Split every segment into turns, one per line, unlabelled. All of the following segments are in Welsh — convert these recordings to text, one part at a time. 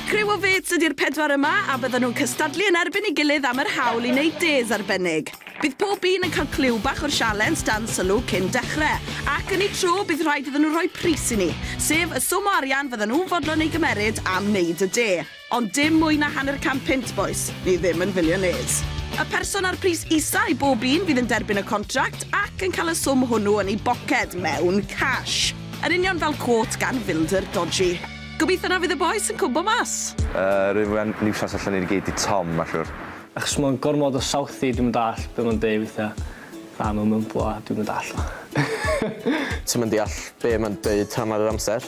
Criw o fêts ydy'r pedwar yma a bydden nhw'n cystadlu yn erbyn ei gilydd am yr hawl i wneud des arbennig. Bydd pob un yn cael clyw bach o'r sialens dan sylw cyn dechrau, ac yn ei tro bydd rhaid iddyn nhw rhoi pris i ni, sef y swm o arian fydden nhw'n fodlon ei gymeryd am wneud y de. Ond dim mwy na hanner can punt, bois. Ni ddim yn filiynêrs. Y person â'r pris isa i bob un fydd yn derbyn y contract ac yn cael y swm hwnnw yn ei boced, mewn cash. Yn union fel quote gan filder dodgy. Gobeithio na fydd y bois yn cwmpo mas. Yy rwy'n fwy na
niwsans allan ni gyd i Tom ma siwr. Achos ma fe'n gormod
o Southie dwi'm yn dallt be ma'n deu withia. Na ma'n mymblo a dwi'm yn dallt o.
Ti'm yn deall be ma'n deud hannar yr amser.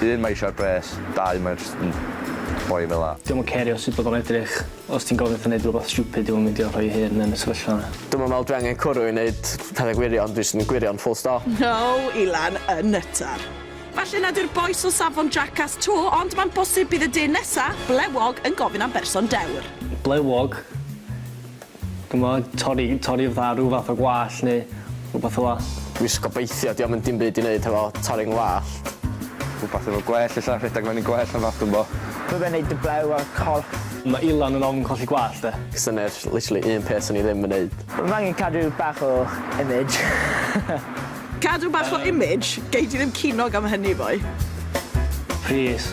Un mae eisiau'r pres, dau mae jyst yn boi fel 'a. Dio'm yn cerio sut bod o'n
edrych. Os ti'n gofyn wrtho neud rwbath stupid dio'm yn meindio rhoi'i hun yn y sefyllfa 'na. Dwi'm yn me'wl dwi angen cwrw
i neud pethe gwirion, dwi jyst yn gwirion full stop. No i lan
y nyttar. Falle nad yw'r bois o safon jackass 'to, ond mae'n bosib bydd y dyn nesa, blewog, yn gofyn am berson dewr. Blewog?
Ch'mod, torri torri fatha rhyw fath o gwallt neu rwbath fel 'a. Dwi jyst gobeithio
'di o'm yn dim byd i neud hefo torri 'ngwallt. Rhywbeth efo
gwellt ella, rhedeg fyny gwellt neu wbath dwi'm 'bo. Bydda i'n neud y blew
ar y corff. Mae Ilan yn ofn
colli gwallt 'de. Syniad literally
un peth swn i ddim yn neud. Fy angen cadw
bach o image.
Cadw bach o image? Gei di ddim cinog am hynny boi.
Plîs.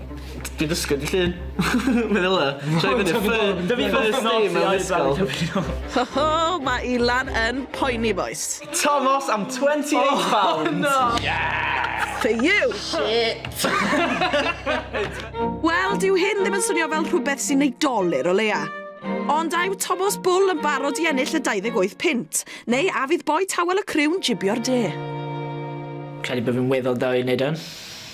Dwi'n dysgu dydd Llun. Meddylia. Troi fyny ffy- Dydi first name ddim yn ysgol. Ho ho
ma Ilan yn poeni bois. Tomos am
twenty eight pounds! For you!
Shit! Wel, dyw hyn ddim yn swnio fel rhywbeth sy'n ei dolur o leia. Ond a yw Tomos Bwl yn barod i ennill y 28 punt? Neu a fydd boi tawel y criw'n jibio'r de?
Credu bod fi'n weddol da i wneud hwn.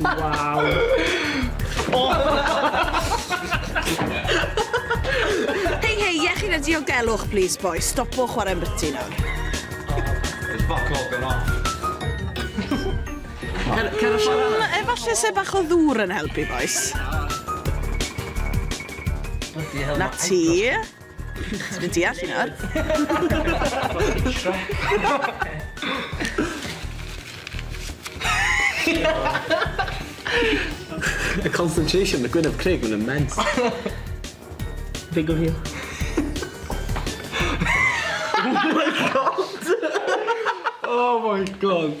Waw.
Hei, hei, iechyd a diogelwch, please, boys. Stopo chwarae'n biti nawr. It's
fuck all gone off. Cer,
cer y ffordd arall. Efalle se bach o ddŵr yn helpu, boys. Na ti. Dwi'n deall i nawr. The
concentration, the gwyneb Craig, mae'n immense.
Big of you.
Oh my god!